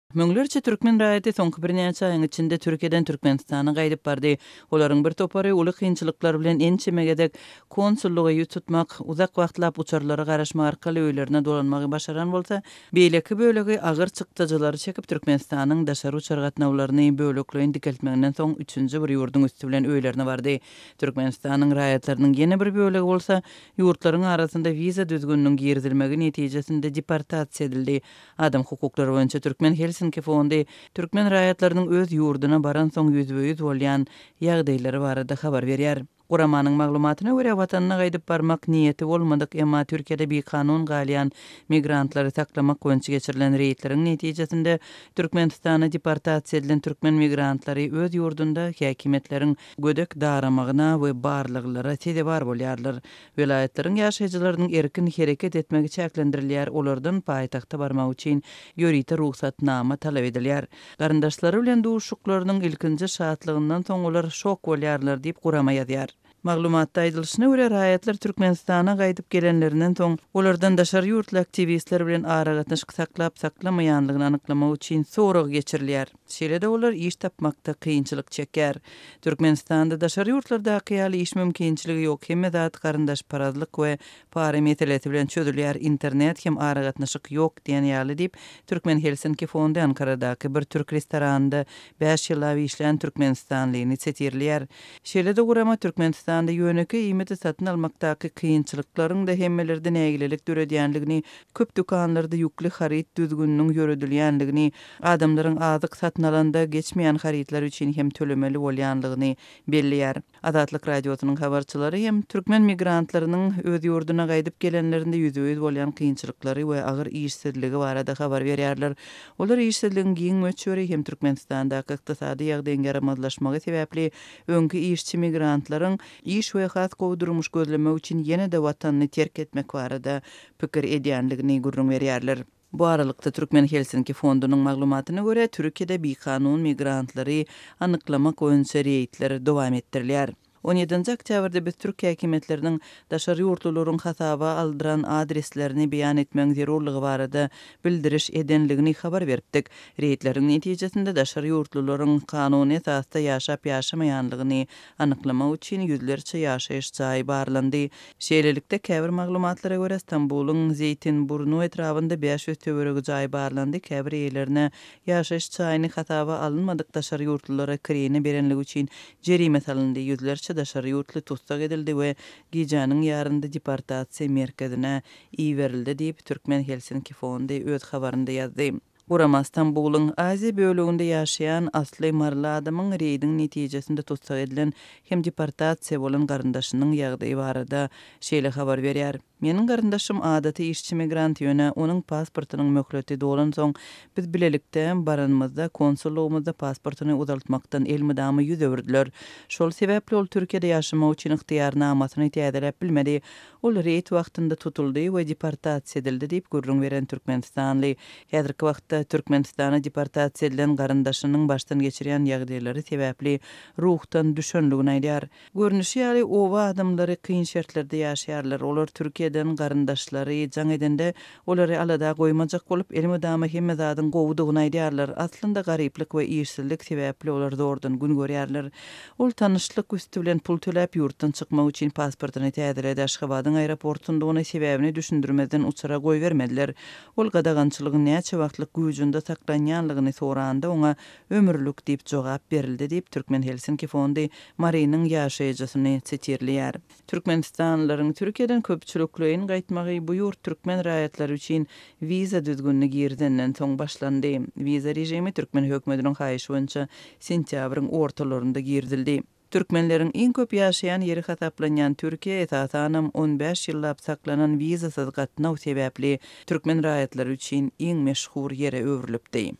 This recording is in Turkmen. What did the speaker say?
Müňlerçe türkmen raýaty soňky birnäçe aýyň içinde Türkiýeden Türkmenistana gaýdyp bardy. Olaryň bir topary uly kynçylyklar bilen ençeme gezek konsullygy ýüz tutmak, uzak wagtlap uçarlara garaşmak arkaly öýlerine dolanmagy başaran bolsa, beýleki bölegi agyr çykdajylary çekip Türkmenistanyň daşary uçar gatnawlaryny bölekleýin dikeltmeginden soň üçünji bir ýurduň üsti bilen öýlerine bardy. Türkmenistanyň raýatlarynyň ýene bir bölegi bolsa Ýurtlaryň arasynda wiza düzgüniniň girizilmegi netijesinde deportasiýa edildi. Adam hukuklary boýunça Türkmen Helsinki fondy türkmen raýatlarynyň öz ýurduna baransoň ýüzbe-ýüz bolýan ýagdaýlary barada habar berýär. Guramanyň maglumatyna görä, watanyna gaýdyp barmak niýeti bolmadyk, emma Türkiýede bikanun galýan migrantlary saklamak boýunça geçirilen reýdleriň netijesinde Türkmenistana deportasiýa edilen türkmen migrantlary öz ýurdunda häkimiýetleriň gödek daramagyna we barlaglara sezewar bolýarlar. Welaýatlaryň ýaşaýjylarynyň erkin hereket etmegi çäklendirilýär, olardan paýtagta barmak üçin ýörite rugsatnama talap edilýär. Garyndaşlary bilen duşuşyklarynyň ilkinji şatlygyndan soň olar şok bolýarlar diýip, gurama ýazýar. Maglumatda aýdylyşyna görä, raýatlar Türkmenistana gaýdyp gelenlerinden soň, olardan daşary ýurtly aktiwistler bilen aragatnaşyk saklap-saklamaýanlygyny anyklamak üçin sorag geçirilýär. Şeýle-de olar iş tapmakda kynçylyk çekýär. Türkmenistanda daşary ýurtlardaky ýaly iş mümkinçiligi ýok, hemme zat garyndaşparazlyk we para meselesi bilen çözülýär, internet hem aragatnaşyk ýok diýen ýaly diýip, Türkmen Helsinki fondy Ankaradaky bir türk restoranynda bäş ýyllap işlän türkmenistanlyny setirleýär. Şeýle-de gurama Türkmenistanda ýönekeý iýmiti satyn almakdaky kynçylyklaryň-da hemmelerde nägilelik döredýändigini, köp dükanlarda ýükli haryt düzgüniniň ýöredilýändigini, adamlaryň azyk satyn alanda geçmeýän harytlar üçin hem tölemeli bolýanlygyny belleýär. Azatlyk Radiosynyň habarçylary hem türkmen migrantlarynyň öz ýurduna gaýdyp gelenlerinde ýüzbe-ýüz bolýan kynçylyklary we agyr işsizligi barada habar berýärler. Olar işsizligiň giň möçberi hem Türkmenistandaky ykdysady ýagdaýyň ýaramazlaşmagy sebäpli öňki işçi migrantlaryň iş we has gowy durmuş gözlemek üçin ýene-de watanyny terk etmek barada pikir edýänligini gürrüň berýärler. Bu aralykda, Türkmen Helsinki fondunyň maglumatyna görä, Türkiýede bikanun migrantlary anyklamak boýunça reýdler dowam etdirilýär. On ýedinji oktýabrda biz türk häkimiýetleriniň daşary ýurtlularyň hasaba aldyran adreslerini beýan etmegiň zerurlygy barada bildiriş edenligini habar beripdik. Reýdleriň netijesinde daşary ýurtlularyň kanuny esasda ýaşap-ýaşamaýanlygyny anyklamak üçin ýüzlerçe ýaşaýyş jaýy barlandy. Şeýlelikde, käbir maglumatlara görä, Stambulyň Zeýtinburnu etrabynda bäş ýüz töweregi jaý barlandy, käbir eýelerine ýaşaýyş jaýyny hasaba alynmadyk daşary ýurtlulara kireýine berenligi üçin jerime salyndy, ýüzlerçe daşary ýurtly tussag edildi we gijäniň ýarynda deportasiýa merkezine iberildi diýip, Türkmen Helsinki Fondy öz habarynda ýazdy. Gurama Stambulyň Aziýa böleginde ýaşaýan asly maryly adamyň reýdiň netijesinde tussag edilen hem deportasiýa bolan garyndaşynyň ýagdaýy barada şeýle habar berýär, Meniň garyndaşym adaty işçi migrant, ýöne onuň pasportynyň möhleti dolansoň, biz bilelikde baranymyzda konsullygymyzda pasportyny uzaltmakdan elmydama ýüz öwürdiler. Şol sebäpli ol Türkiýede ýaşamak üçin ygtyýarnamasyny täzeläp bilmedi. Ol reýd wagtynda tutuldy we deportasiýa edildi diýip gürrüň beren türkmenistanly, häzirki wagtda Türkmenistana deportasiýa edilen garyndaşynyň başdan geçirýän ýagdaýlary sebäpli ruhdan düşendigini aýdýar. Görnüşi ýaly, oba adamlary kyn şertlerde ýaşaýarlar. Olar Türkiýeden garyndaşlary jaň edende Olary alada goýmajak bolup, elmydama hemme zadyň gowudygyny aýdýarlar. Aslynda garyplyk we işsizlik sebäpli olar zordan gün görýärler. Ol tanyşlyk üsti bilen pul töläp, ýurtdan çykmak üçin pasportyny täzeledi. Aşgabadyň aeroportundygyny, sebäbini düşündirmezden uçara goýbermediler. Ol gadagançylygyň näçe wagtlyk güwjünde saklanýanlygyny soranda, oňa ömürlik diýip jogap berildi diýip, Türkmen Helsinki fondy Marynyň ýaşaýjysyny sitirleýär. Türkmenistanlylaryň Türkiýeden köpçülikleýin gaýtmagy bu ýurt türkmen raýatlary üçin wiza düzgünini girizenden soň başlandy. Wiza režimi türkmen hökümetiniň haýyşy boýunça sentýabryň ortalarynda girizildi. Türkmenleriň iň köp ýaşaýan ýeri hasaplanýan Türkiýä esasanam on bäş ýyllap saklanan wizasyz gatnaw sebäpli türkmen raýatlary üçin iň meşhur ýere öwrülipdi.